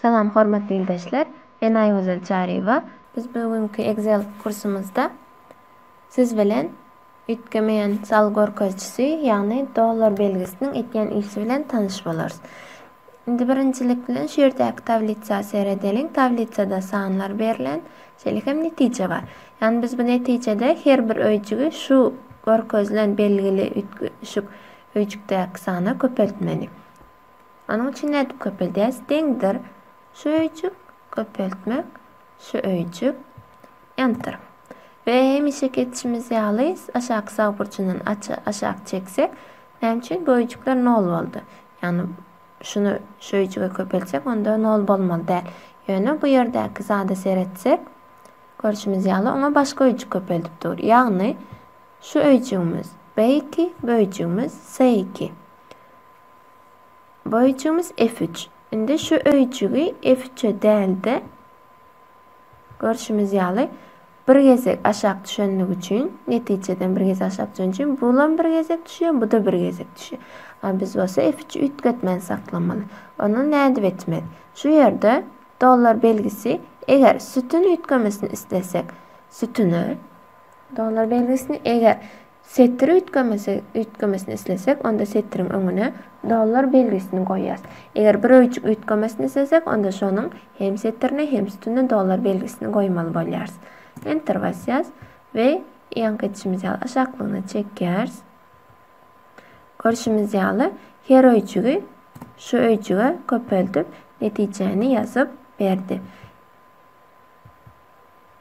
Salam hormatly ildeşler! Men Aýgözel Çaryýewa. Biz bu günki Excel kursumyzda siz bilen Üýtgemeýän sal görkezijisi, ýagny dollar belgisiniň etýän işi bilen tanyş bolarys. Indi birinjilik bilen şu ýerdäki tablisa seredeliň. Tablisada sanlar berlen, şeýle hem netije bar. Ýagny biz bu netijede her bir öýjügi şu görkezilen belgili üýtgeşik öýjükdäki sana köpeltmeli. Onuň üçin nädip köpeldýäs? Deňdir şu öýjük köpeltmek Söýüji. Enter. We hemişeki etişimiz ýaly aşaky sag burjundan aşak çeksek, näme üçin böýjükler nol boldy? Ýagny şuny söýüjige köpeltsek, onda nol bolmaly däl. Ýöne bu ýerdäki zada seretsek, görşümiz ýaly oňa başga öýjük köpeldip dur. Ýagny şu öýjügimiz B2, böýjügimiz C2. Bu öýjügimiz F üç. Indi şu öýjügi F üçe däl-de, görşümiz ýaly, bir gezek aşak düşenligi üçin, netijeden bir gezek aşak düşen üçin bulam bir gezek düşýär, bu-da bir gezek düşýär. A biz bolsa F üçi üýtgetmän saklamaly. Onda nädip etmeli? Şu ýerde dollar belgisi, eger sütün üýtgemesini islesek, sütüne dollar belgisini, eger Setir üýtgemesi üýtgemesini islesek, onda setiriň öňüne dollar belgisini goýýas. Eger bir öýjük üýtgemesini islesek, onda şonuň hem setirine, hem sütünine dollar belgisini goýmaly bolýarys. Enter basýas we ýaňky edişimiz ýaly aşaklygyna çekýäris. Görşümiz ýaly, her öýjügi şu öýjüge köpeldip, netijäni ýazyp berdi.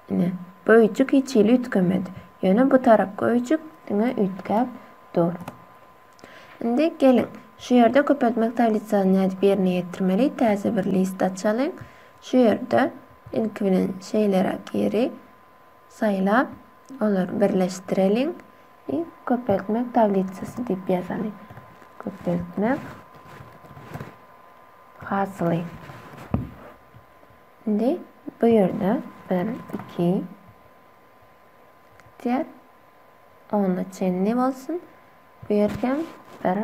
Ine, öýjük hiç hili üýtgemedi. Ýöne bu tarapky öýjük diňe üýtgäp dur. Indi geliň, şu ýerde köpeltmek tablisasyny nädip ýerine ýetirmeli? Täze bir list açalyň. Şu ýerde ilki bilen şeýleräk ýeri saýlap, olary birleşdireliň we köpeltmek tablisasy diýip ýazalyň. Köpeltmek hasyly. Indi bu ýerde bir, iki, diýer. Onda çenli bolsun. Bu ýer hem bir,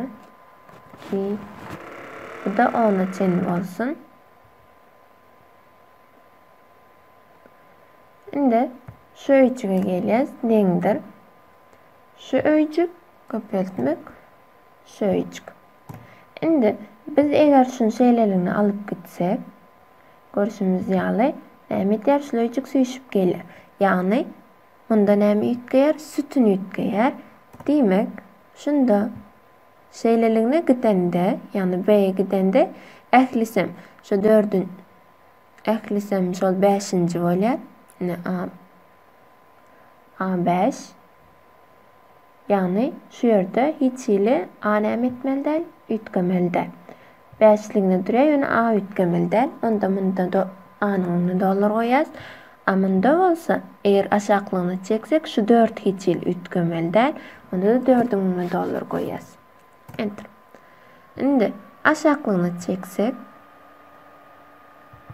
iki, bu da onda çenli bolsun. Indi şu öýjüge gelýäs, deňdir. Şu öýjük köpeltmek, şu öýjük. Indi biz eger şuny şeýleligine alyp gitsek, Görşümiz ýaly, näme edýär? Şuleýjik süýşüp gelýär. Ýagny, munda näme üýtgeýär? Sütün üýtgeýär. Diýmek, şunda şeýleligine gidende, ýagny B-e gidende, ählisem şu dördün ählisem şol bäşinji bolýar. Ine, A, A beş. Ýagny şu ýerde hiç hili a näme etmeli däl, üýtgemeli däl. Bäşligine durýar, ýöne a üýtgemeli däl. Onda munda do, anyň öňüne dollar goýýas. A munda bolsa, eger aşaklygyna çeksek, şu dört hiç hili üýtgemeli däl. Onda-da dördüň öňüne dollar goýýas. Enter. Indi aşaklygyna çeksek,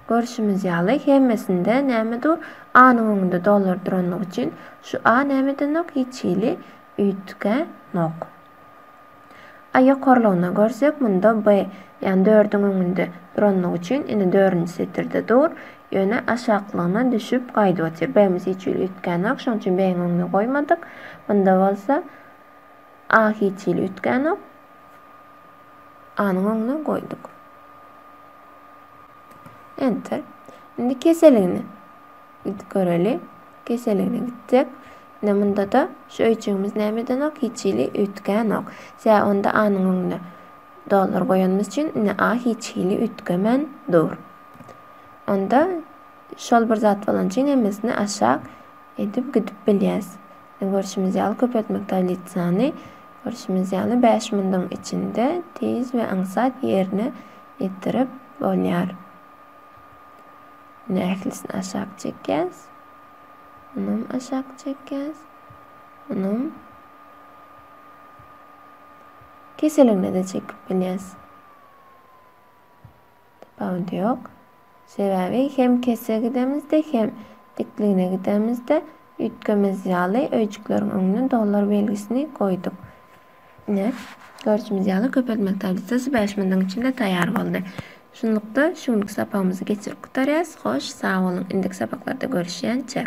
görşümiz ýaly hemmesinde näme dur? A-nyň öňünde dollar duranlygy üçin şu A näme edenok? Hiç hili üýtgänok. A ýokarlygyna görsek, munda B, ýagny dördüň öňünde duranlygy üçin ine dördünji setirde dur. Ýöne aşaklygyna düşüp gaýdyp otyr. B-miz hiç hili üýtgänok, şonuň üçin B-iň öňüne goýmadyk. Munda bolsa A hiç hili üýtgänok. A-nyň öňüne goýduk. Enter. Indi keseligini gidip göreli. Keseligine gitdik. Ine munda-da şu öýjügimiz näme edenok? Hiç hili üýtgänok. Sebäbi onda A-nyň öňüne dollar goýanymyz üçin indi A hiç hili üýtgemän dur. Onda şol bir zat bolan üçin hemmesini aşak edip gidip bilýäs. Görşümiz ýaly, köpeltmek taýlyt sany, görşümiz ýaly, bäş munduň içinde tiz we aňsat ýerine ýetirip bolýar. Indi ählisini aşak çekýäs. Munam aşak çekýäs. Munam keseligine-de çekip bilýäs. Tapawudy ýok. Sebäbi hem kese gidemizde, hem dikligine gidemizde üýtgemez ýaly öýjükleriň öňüne dollar belgisini goýduk. Ine, görşümiz ýaly, köpeltmek tablisasy bäş minutiň içinde taýýar boldy. Şunlukda, şu günki sapagymyzy geçirip gutarýarys. Hoş, sag boluň, indiki sapaklarda görüşýänçä!